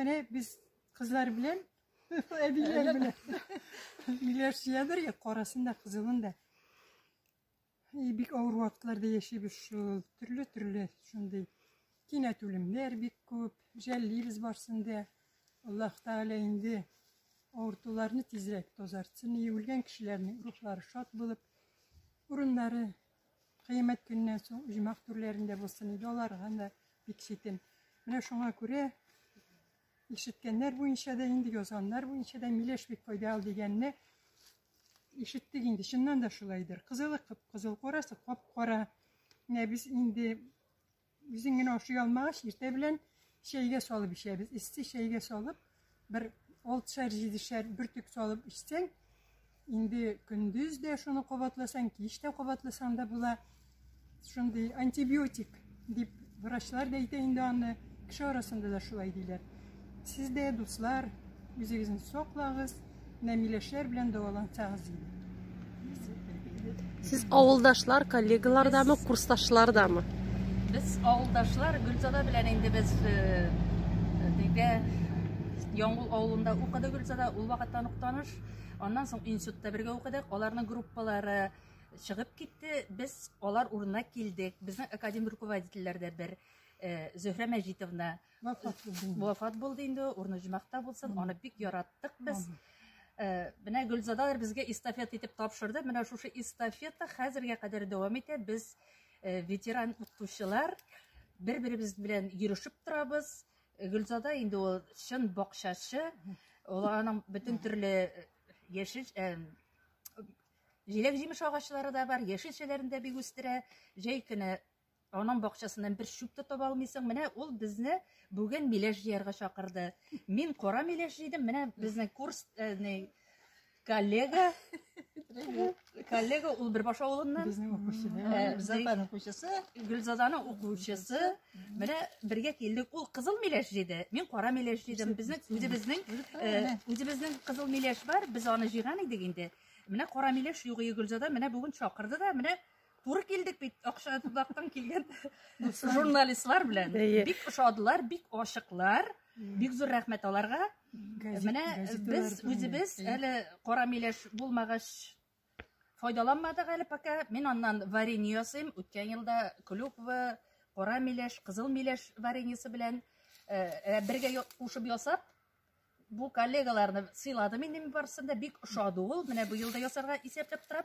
Менә без кызлар белән әбиләр белән миләш җыядыр я карасын да кызылын да. И бик авыр вакытларда яшибез шул. Төрле төрле шундый кинәт үлемнәр бик күп. Жәллибез барсын да. Аллаһ Тәгалә инде авыртуларны тизрәк тазартсын. И үлгән кешеләрнең рухлары шат булып, урыннары Кыямәт көненнән соң оҗмах түрләрендә булсын иде, аларга да бик читен. Менә шуңа күрә ишеткәннәр буенча да инде, язганнар буенча да миләш бик файдалы дигәнне ишеттек инде. Чыннан да шулайдыр. Кызылы кып-кызыл, карасы кап-кара. Менә без инде Үзең генә ашый алмагач, иртә белән чәйгә салып эчәбез. Эссе чәйгә салып, бер алтышар, җидешәр бөртек салып эчсәң, инде көндез дә шуны кабатласаң, кич тә кабатласаң да була. Шундый антибиотик дип врачлар да әйтә инде аны, кеше арасында да шулай диләр. Сез дә, дуслар, үзегезне саклагыз, менә миләшләр белән дәвалансагыз иде. Сез авылдашлар, коллегалардамы, курсташлардамы? Без авылдашлар, Гөлзада белән инде без бергә э, э, Яңгул авылында укыды Гөлзада, ул вакыттан ук таныш. Аннан соң институтта бергә укыдык. Аларның группалары чыгып китте. Без алар урынына килдек. Безнең академ руководительләр дә бер э, Зөһрә Мәҗитовна Вафат булды инде. Вафат булды инде, урны җмәхтә булсын. Аны бик яраттык без. Э, менә Гөлзадалар безгә эстафета итеп тапшырды. Менә шушы эстафета хәзергә кадәр дәвам итә. Без э, ветеран укытучылар бер-беребез белән йөрешеп торабыз. Э, Гөлзада инде ул чын бакчачы. Ул аның бөтен төрле яшел җиләк-җимеш агачлары да бар, яшелчәләрен дә бик үстерә. Җәй көне Аның бакчасыннан бер чүп тә таба алмыйсың. Менә ул безне бүген миләш җыярга чакырды. Мин кара миләш җыйдым. Менә безнең курс э, не, коллега. Коллега ул Бөрбаш авылыннан. Безнең укучы. Э, Зәпәнең кучысы. Гөлзаданың укучысы. Менә бергә килдек. Ул кызыл миләш җыйды. Мин кара миләш җыйдым. Безнең үзебезнең э, үзебезнең кызыл миләш бар. Без аны җыйган идек инде. Менә кара миләш югые Гөлзада менә бүген чакырды да менә Туры килдек бит, акша тудактан килгән журналистлар белән. Бик ошадылар, бик ашыклар. Бик зур рәхмәт аларга. Менә без үзебез әле кара миләш булмагач файдаланмадык әле пока. Мин аннан варенье ясыйм. Үткән елда клюква, кара миләш, кызыл миләш вареньесы белән бергә кушып ясап, бу коллегаларны сыйладым инде мин барысын да бик ошады ул. Менә быел да ясарга исәпләп торам.